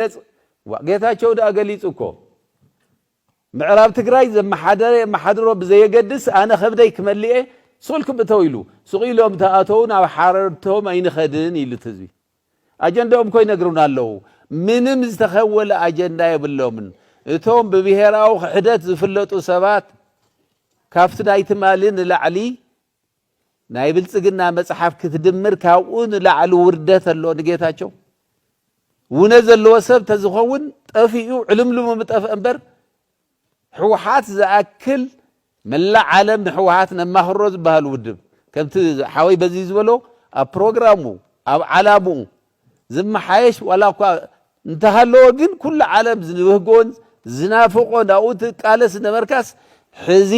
ይግለፅ ዋእ ጌታቸው ድኣ ገሊፁ እኮ ምዕራብ ትግራይ ዘመሓደረ የመሓድሮ ብዘየገድስ ኣነ ከብደይ ክመልእየ ሱቅ ኢልኩም እተው ኢሉ ሱቅ ኢሎም ተኣተው ናብ ሓረድቶም ኣይንኸድን ኢሉ እቲ ህዝቢ ኣጀንዳኦም እኮ ይነግሩና ኣለው ምንም ዝተኸወለ ኣጀንዳ የብሎምን እቶም ብብሄራዊ ክሕደት ዝፍለጡ ሰባት ካብቲ ናይ ትማሊ ንላዕሊ ናይ ብልፅግና መፅሓፍ ክትድምር ካብኡ ንላዕሊ ውርደት ኣሎ ንጌታቸው ውነ ዘለዎ ሰብ ተዝኸውን ጠፊኡ ዕልምልሙ ምጠፍአ እምበር ሕወሓት ዝኣክል መላእ ዓለም ንሕወሓት ነማኽሮ ዝበሃል ውድብ ከምቲ ሓወይ በዚ ዝበሎ ኣብ ፕሮግራሙ ኣብ ዓላምኡ ዝመሓየሽ ዋላኳ እንተሃለወ ግን ኩሉ ዓለም ዝብህጎን ዝናፍቆን ኣብኡ ትቃለስ ዝነበርካስ ሕዚ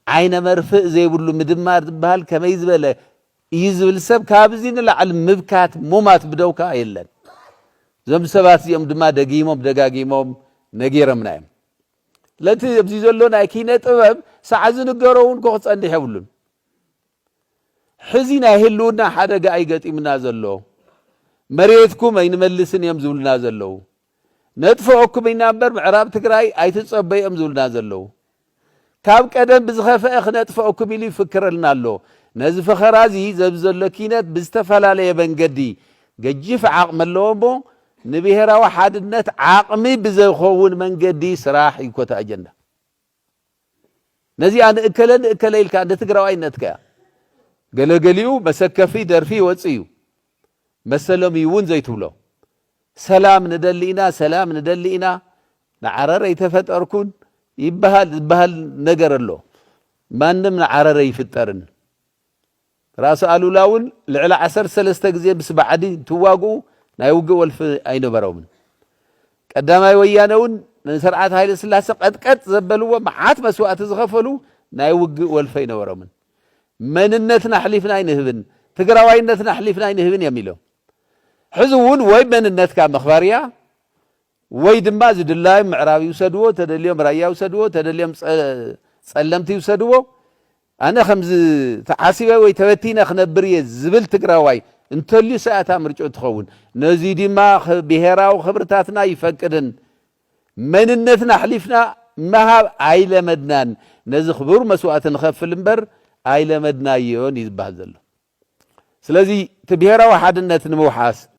ዓይነ መርፍእ ዘይብሉ ምድማር ዝበሃል ከመይ ዝበለ እዩ ዝብል ሰብ ካብዚ ንላዕሊ ምብካት ሙማት ብደው ከኣ የለን። እዞም ሰባት እዚኦም ድማ ደጊሞም ደጋጊሞም ነጊረምና እዮም። ስለቲ ኣብዚ ዘሎ ናይ ኪነ ጥበብ ሳዕ ዝንገሮ እውን ኮ ክጸንሕ የብሉን። ሕዚ ናይ ህልውና ሓደጋ እዩ ገጢሙና ዘሎ፣ መሬትኩም ኣይንመልስን እዮም ዝብሉና ዘለዉ፣ ነጥፍኦኩም ኢና እምበር ምዕራብ ትግራይ ኣይትፀበዩ እዮም ዝብሉና ዘለዉ፣ ካብ ቀደም ብዝኸፈኣ ክነጥፍኦኩም ኢሉ ይፍክረልና ኣሎ፣ ነዚ ፈኸራ እዚ ዘዚ ዘሎ ኪነት ብዝተፈላለየ መንገዲ ገጂፍ ዓቕሚ ኣለዎ እሞ ንብሄራዊ ሓድነት ዓቕሚ ብዘይኸውን መንገዲ ስራሕ እዩ ኮታ ኣጀንዳ። ነዚኣ ንእከለ ንእከለ ኢልካ እንደ ትግራዋይነት ከ ገለ ገሊኡ መሰከፊ ደርፊ ይወጽእ እዩ መሰሎም እዩ እውን ዘይትብሎ ሰላም ንደሊ ኢና ሰላም ንደሊ ኢና ንዓረር ኣይተፈጠርኩን ይበሃል ዝበሃል ነገር ኣሎ ማንም ንዓረር ኣይፍጠርን ራእሲ ኣሉላ እውን ልዕሊ ዓሰርተ ሰለስተ ግዜ ምስ ባዕዲ እንትዋግኡ ናይ ውግእ ወልፊ ኣይነበሮምን። ቀዳማይ ወያነ እውን ንስርዓት ሃይለስላሰ ቀጥቀጥ ዘበልዎ መዓት መስዋእቲ ዝኸፈሉ ናይ ውግእ ወልፊ ኣይነበሮምን። መንነትና ኣሕሊፍና ኣይንህብን፣ ትግራዋይነትና ኣሕሊፍና ኣይንህብን እዮም ኢሎም። ሕዚ እውን ወይ መንነትካ ምኽባር እያ ወይ ድማ ዝድላዮም ምዕራብ ይውሰድዎ ተደልዮም ራያ ይውሰድዎ ተደልዮም ፀለምቲ ይውሰድዎ ኣነ ከምዚ ተዓሲበ ወይ ተበቲነ ክነብር እየ ዝብል ትግራዋይ እንተልዩስ እያ እታ ምርጭኡ ትኸውን ነዙይ ድማ ብሄራዊ ክብርታትና ይፈቅድን መንነትና ኣሕሊፍና ምሃብ ኣይለመድናን ነዚ ክቡር መስዋእቲ ንኸፍል እምበር ኣይለመድናዮን እዩ ዝበሃል ዘሎ ስለዚ እቲ ብሄራዊ ሓድነት ንምውሓስ